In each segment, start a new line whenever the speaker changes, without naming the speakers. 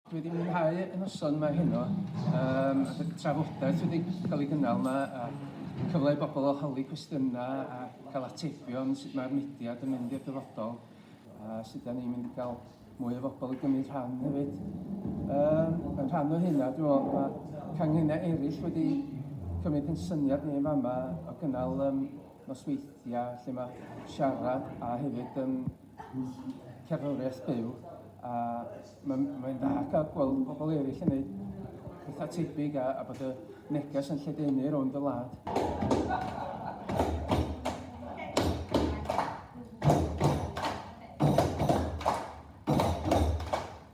Dwi wedi mwynhau y noson yma heno, um, a y trafodaeth wedi cael ei gynnal yma, a cyfle i bobl o holi cwestiynau a cael atebion sut mae'r mudiad yn mynd i'r dyfodol, a sut da ni'n mynd i gael mwy o bobl i gymryd rhan hefyd. Um, yn rhan o hynna, dwi'n meddwl, mae canghennau eraill wedi cymryd yn syniad ni yn fama o gynnal um, nosweithiau lle ma' siarad a hefyd yym cerddoriaeth byw a mae'n mae'n dda cael gweld pobl eraill yn neud pethau tebyg a, a bod y neges yn lledaenu rownd y wlad.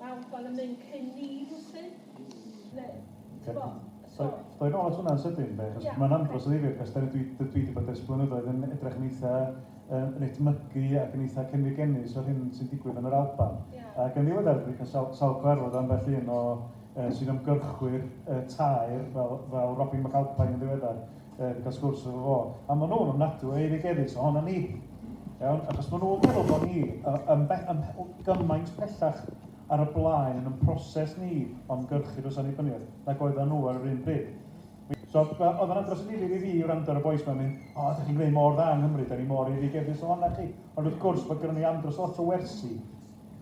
Wel, wel yn mynd cyn ni rwsyn. Neu, ti'n bo? So... Doi nôl at hwnna'n sydyn, de, achos yeah, mae'n andros okay. o ddifrif, achos dwi, dwi wedi bod ers blynyddoedd yn edrych yn eitha um, yn etmygu ac yn eitha cynnig ennis o'r hyn sy'n digwydd yn yr Alban. Yeah. Ac yn ddiweddar, dwi'n cael sawl, sawl cyfarfod am felly un o uh, sy'n ymgyrchwyr uh, tair fel, fel Robin McAlpine yn ddiweddar, Yn cael sgwrs efo fo. A maen nhw'n ofnadwy o eiregeddus ohono ni. Iawn? Achos maen nhw'n meddwl bod ni yn, yn, yn gymaint pellach ar y blaen yn y proses ni o'n gyrchu dros annibyniaeth nag oedden nhw ar yr un bryd. So, oedd yna dros y difyr i fi wrando ar y boes mae'n mynd, o, oh, da chi'n gwneud mor dda yng Nghymru, da ni mor eiregeddus ohonoch chi. Ond wrth gwrs, bod gyda ni andros lot o wersi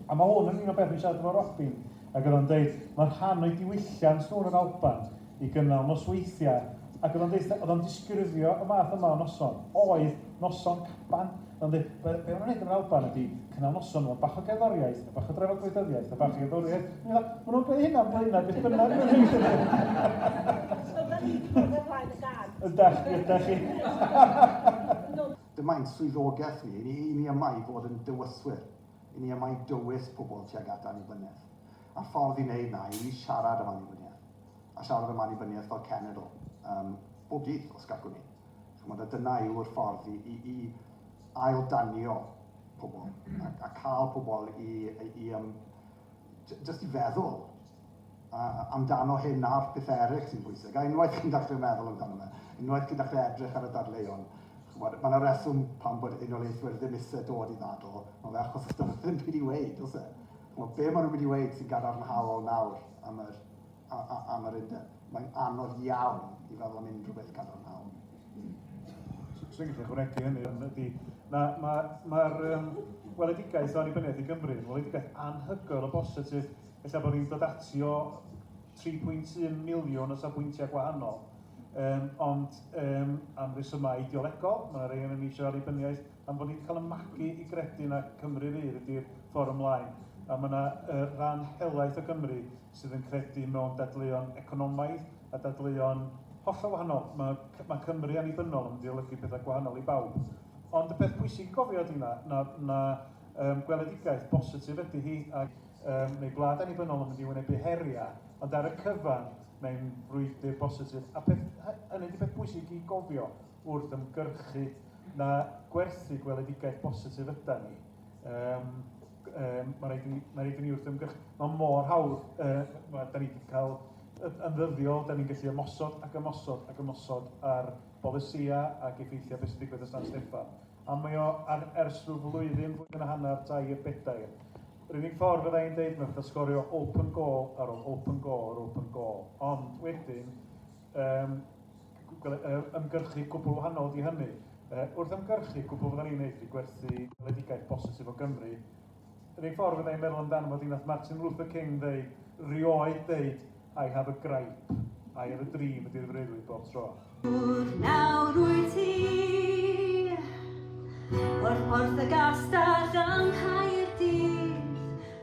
A mae hwn yn un o beth fi'n siarad efo Robin, ac oedd o'n dweud, mae rhan o'i diwylliant nhw yn yr Alban i gynnal nosweithiau, ac oedd o'n dweud, oedd o'n disgrifio y math yma o noson, oedd noson caban, oedd o'n dweud, be, be maen nhw'n gwneud yn yr Alban ydy cynnal noson efo bach o gerddoriaeth, a bach o drafod gwleidyddiaeth, a bach o gerddoriaeth, a maen nhw'n gwneud hynna'n blaenau beth bynnag maen nhw'n gwneud. So, da ni'n gwneud y
blaen y gad. Ydach, ydach chi.
Dyma
ein swyddogaeth ni, ni, ni yma i fod yn dywyswyr, i ni yma i dywys pobl tuag at annibyniaeth. A'r ffordd i wneud na yw i siarad am annibyniaeth, a siarad am annibyniaeth fel cenedl, um, bob dydd, os gallwn ni. Chymod, a dyna yw'r ffordd i, i, i ail danio pobl, a, a cael pobl i, i, i um, jyst i feddwl amdano hyn a'r pethau eraill sy'n bwysig, a unwaith chi'n dechrau meddwl amdano fe, unwaith chi'n dechrau edrych ar y dadleuon, chymod, mae yna reswm pan bod unoliaethwyr ddim eisiau dod i ddadl, mae fe achos os dyn ddim byd i weid, os e? Chymod, be maen nhw'n mynd i weid sy'n gadarnhaol nawr am yr, am yr undeb? Mae'n anodd iawn i feddwl am unrhyw beth gadarnhaol.
Swn i'n gallu chwregi hynny, ond ydy, mae'r ma, ma, ma um, weledigaeth o annibyniaeth i Gymru, yn weledigaeth anhygoel o bositif, efallai bod ni'n dod ati o 3.1 miliwn o safbwyntiau gwahanol, um, ond um, am resymau ideolegol, mae yna rei yn eisiau annibyniaeth, Am bod ni 'di cael y magu i gredu na Cymru Rydd ydi'r ffordd ymlaen, a mae 'na yy ran helaeth o Gymru sydd yn credu mewn dadleuon economaidd a dadleuon hollol wahanol. Mae C- mae Cymru annibynnol yn mynd i olygu pethau gwahanol i bawb. Ond y peth pwysig i gofio ydy na, na, na um, gweledigaeth bositif ydy hi, ac um, mae gwlad annibynnol yn mynd i wynebu heriau, ond ar y cyfan mae'n frwydr bositif. A peth, hy- hynny ydy peth pwysig i gofio. wrth ymgyrchu na gwerthu gweledigaeth bositif yda ni. Um, um, mae rhaid i ni, mae rhaid i ni wrth ymgyrchu. Mae mor hawdd, uh, mae, da ni wedi cael yn ddyddiol, da ni'n gallu ymosod ac ymosod ac ymosod ar bolysia ac effeithiau beth sy'n digwydd y San Steffan. A mae o ar, ers rhyw flwyddyn, flwyddyn a hanner, dair, bedair. Yr unig ffordd fydda i'n dweud, mae'n fatha sgorio open goal ar ôl open goal ar open goal. Ond wedyn, Yym, ymgyrchu cwbl wahanol di hynny. Uh, wrth ymgyrchu cwbl fydda ni'n neud i gwerthu ledigaeth bositif o Gymru, yr un ffordd fydda i'n meddwl amdano fod i'n nath Martin Luther King ddeud, rioed ddeud, I have a gripe, I have a dream ydy'r freuddwyd bob tro. Nawr
wyt ti, o'r porth y gastell yng Nghaerdydd,